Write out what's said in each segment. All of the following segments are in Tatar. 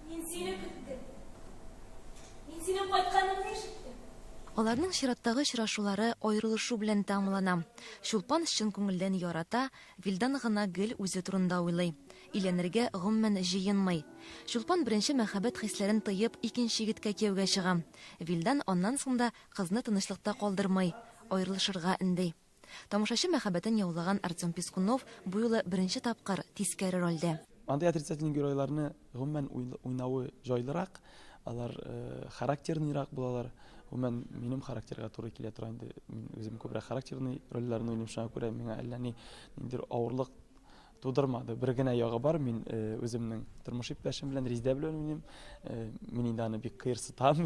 Мин сине көттем. Мин синең кайтканыңны ишеттем. Аларның чираттагы очрашулары аерылышу белән тәмамлана. Чулпан чын күңелдән ярата, Вилдан гына гел үзе турында уйлый. Өйләнергә гомумән җыенмый. Чулпан беренче мәхәббәт хисләрен тыеп, икенче егеткә кияүгә чыга. Вилдан аннан соң да кызны тынычлыкта калдырмый, аерылышырга өнди. Тамашачы мәхәббәтен яулаган Артем Пискунов бу юлы беренче тапкыр тискәре рольдә. Андый отрицательный геройларны, гомумән, уйнавы җайлырак, алар характерныйрак булалар. Гомумән, минем характерга туры килә тора инде. Мин үзем күбрәк характерный рольләрне уйныйм, шуңа күрә миңа әллә ниндидер авырлык Тудырмады. Бер генә ягы бар, мин үземнең тормыш иптәшем белән Риздә белән уйныйм. Мин инде аны бик кыерсытам,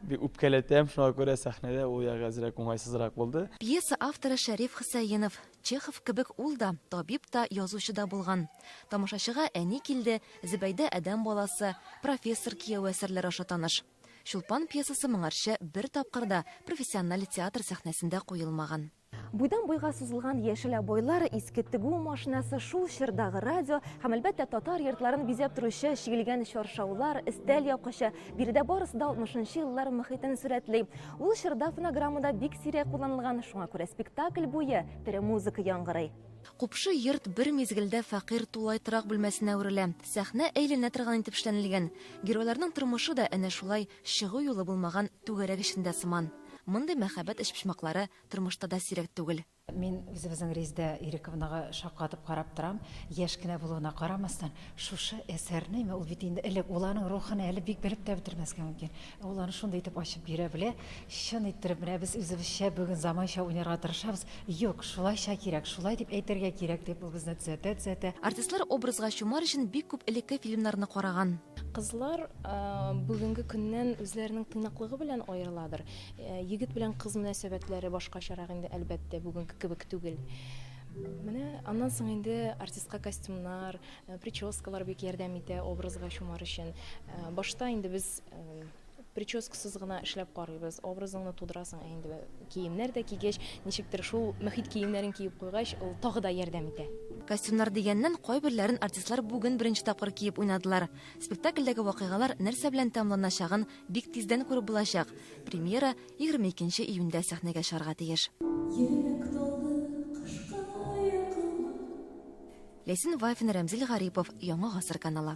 бик үпкәләтәм, шуңа күрә сәхнәдә ул ягы әзрәк уңайсызрак булды. Пьеса авторы Шәриф Хөсәенов. Чехов кебек ул да, табиб та, язучы да булган. Тамашачыга Әни килде, Зөбәйдә адәм баласы, Профессор кияве әсәрләре аша таныш. Чулпан пьесасы моңарчы бер тапкыр да профессиональ театр сәхнәсендә куелмаган. Буйдан-буйга сузылган яшелә бойлар, иске тегү машинасы, шул чордагы радио һәм, әлбәттә, татар йортларын бизәп торучы чигелгән чаршаулар, өстәл япкычы, биредә барысы да 60 еллар мохитен сурәтли. Ул чорда фонограммада бик сирәк кулланылган, шуңа күрә спектакль буе тере музыка яңгырый. Купшы йорт бер мизгелдә фәкыйрь тулай торак бүлмәсенә әверелә. Сәхнә әйләнә торган итеп эшләнелгән. Геройларның тормышы да әнә шулай Чыгу юлы булмаган түгәрәк эчендә сыман. Мондый мәхәббәт өчпочмаклары тормышта да сирәк түгел. Мин үзебезнең Резидә Ирековнага шаккатып карап торам. Яшь кенә булуына карамастан, шушы әсәрне, мә ул бит инде элек, ул аның рухын әле бик белеп тә бетермәскә мөмкин, ә ул аны шундый итеп ачып бирә белә, чын иттереп, менә без үзебезчә бүген заманча уйнарга тырышабыз, юк, шулайча кирәк, шулай дип әйтергә кирәк, дип ул безне төзәтә-төзәтә. Артистлар образга чумар өчен бик күп элекке фильмнарны караган. Кызлар бүгенге көннән үзләренең тыйнаклыгы белән аерыладыр. Егет белән кыз мөнәсәбәтләре башкачарак инде, әлбәттә, бүгенге кебек түгел. Менә аннан соң инде артистка костюмнар, прическалар бик ярдәм итә образга чумар өчен. Башта инде без прическасыз гына эшләп карыйбыз. Образыңны тудырасың ә инде киемнәр дә кигәч, ничектер шул мохит киемнәрен киеп куйгач, ул тагы да ярдәм итә. Костюмнар дигәннән, кайберләрен артистлар бүген беренче тапкыр киеп уйнадылар. Спектакльдәге вакыйгалар нәрсә белән тәмамланачагын бик тиздән күреп булачак. Премьера егерме икенче июньдә сәхнәгә чыгарга тиеш. Ләйсән Вафина, Рәмзил Гарипов, Яңа гасыр каналы.